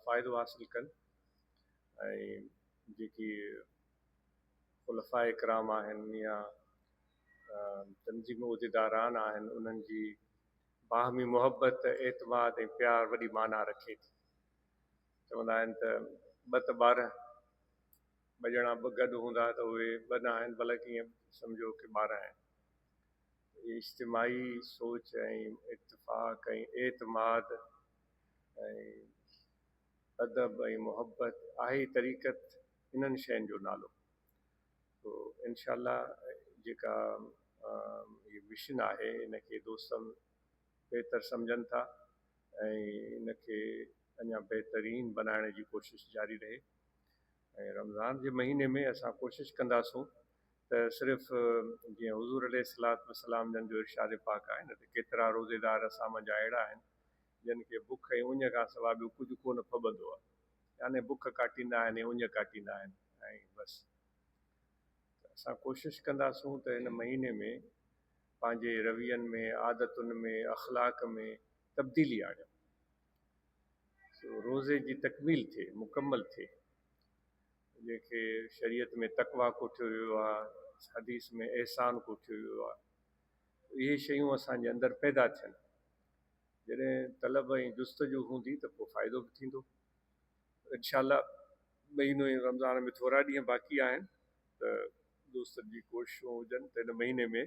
فائدو حاصل ڪن ۽ جيڪي خلفاء ڪرام آهن يا تنظيم عهديداران آهن انهن جي باهمي محبت اعتماد ۽ پيار وڏي معنيٰ رکي ٿي چوندا آهن ته ٻه ته ٻار ٻه ڄڻا ٻه گڏ هوندا ته اهي ٻه نه آهن بلڪ ائين سمجهو ڪي ٻارهن آهن اجتماعي سوچ ۽ اتفاق ۽ اعتماد ادب ۽ محبت آهي ئي طريقت انهن شين جو نالو تو انشاء الله جيڪا هي مشن آهي ان کي دوستن بهتر سمجهن ٿا ۽ ان کي اڃا بهترين بنائڻ جي ڪوشش جاري رهي ۽ رمضان جي مهيني ۾ اسان ڪوشش ڪنداسون ته صرف جيئن حضور عليه الصلوة والسلام جن جو ارشاد پاڪ آهي نه ته ڪيترا روزيدار اسان منجهان اهڙا آهن جن کي بک ۽ اڃ کان سواء ٻيو ڪجهه ڪونه ڦٻندو آهي، يعني بک ڪاٽيندا آهن ۽ اڃ ڪاٽيندا آهن ۽ بس. ته اسان ڪوشش ڪنداسون ته هن مهيني ۾ پنهنجي روين ۾، عادتن ۾، اخلاق ۾ تبديلي آڻيون. سو روزي جي تڪميل ٿئي، مڪمل ٿئي. جنهن کي شريعت ۾ تقويٰ ڪوٺيو ويو آهي، حديث ۾ احسان ڪوٺيو ويو آهي. اهي شيون اسان جي اندر پيدا ٿين. جڏهن طلب ۽ جستجو هوندي ته پوء فائدو به ٿيندو. انشاء الله مهينو ۽ رمضان ۾ ٿورا ڏينهن باقي آهن ته دوستن جي ڪوششون هجن ته ان مهيني ۾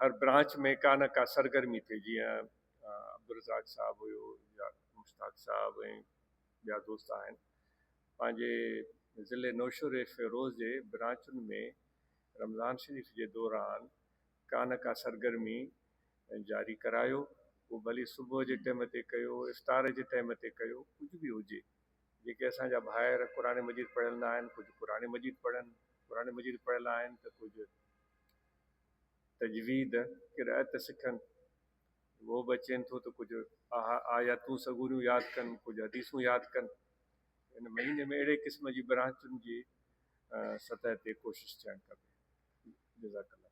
هر برانچ ۾ ڪا نه ڪا سرگرمي ٿئي جيئن عبدالرزاق صاحب هيو يا مشتاق صاحب ۽ ٻيا دوست آهن پنهنجي ضلعي نوشهري فيروز جي برانچن ۾ رمضان شريف جي دوران ڪا نه ڪا سرگرمي جاري ڪرايو پوء ڀلي صبح جي ٽيم تي ڪيو افطار جي ٽيم تي ڪيو ڪجهه به هجي جيڪي اسان جا ڀائر قرآن مجيد پڙهيل نه آهن ڪجهه قرآن مجيد پڙهن قرآن مجيد پڙهيل آهن ته ڪجهه تجويد قرائت سکن اهو به اچين ٿو ته ڪجهه آها آياتون سڳوريون ياد ڪن ڪجهه حديثون ياد ڪن ان مهيني ۾ اهڙي قسم جي برانچن جي سطح تي ڪوشش ٿيڻ کپي جزاڪ الله